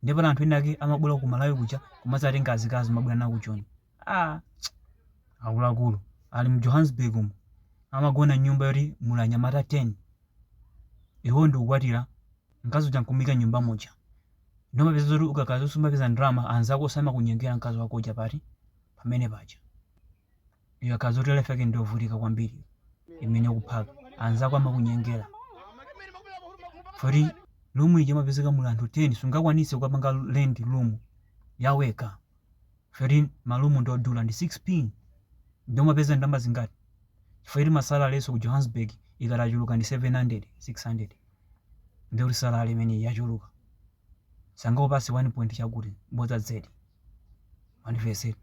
ndiye pali anthu ena ake amabwera ku malawi kuja kumadzatenga azikazi kumabwera nawo ku joni ah, akuluakulu ali mu johannesburg umu amagona nyumba yoti muli anyamata 10 iwo ndikukwatira mkazi uja nkumika nyumba muja nde umapeza zoti ukakhala kuti sumapeza ndalama anzako osamakunyengera mkazi wako uja bwanji pamene paja Ikakhala zoti life yake ndiyovutika kwambiri imene ukuphaka anzako amakunyengera poti lumu ija imapezeka muli anthu 10 sungakwanise kukapanga rent lumu yawekha poti malumu ndiodula ndi 6 pin nde umapeza ndalama zingati chifukwa choti masalalenso ku johannesburg ikati yachuluka ndi 700 600 ndiyo salale imene yachuluka sangakupatse 1 point chakuti bodza zedi mundimvetsetse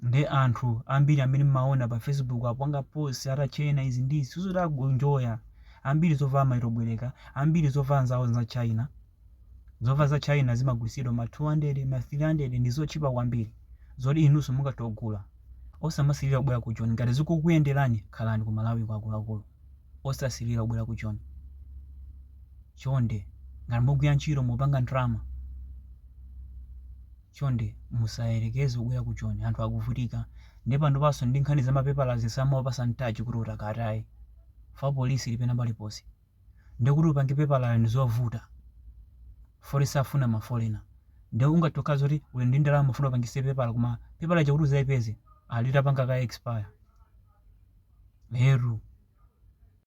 nde anthu ambiri amene mmaona pa facebook apanga post atachena izi ndi izi sizoti akunjoya, ambiri zovala amangobwereka ambiri zovala nzawo za china zovala za china zimagulitsidwa ma 200 ma 300 ndi zotchipa kwambiri zoti inunso mungatogula osamasirira kubwera ku joni ngati zikukuyenderani khalani ku malawi akuluakulu osasilira kubwera ku joni chonde ngati mugwira ntchito mupanga ndalama chonde musayerekeze kubwera ku joni anthu akuvutika nde panopanso ndi nkhani za mapepala zisama opasa mtaji kuti utakataye fa polisi lipena paliponse ndi kuti upange pepala ndi zovuta poti safuna mafolena nde ungatokhala kuti uli ndi ndalama ufuna upangise pepala koma pepala chakuti uzalipeze alitapanga kale expire. Eetu.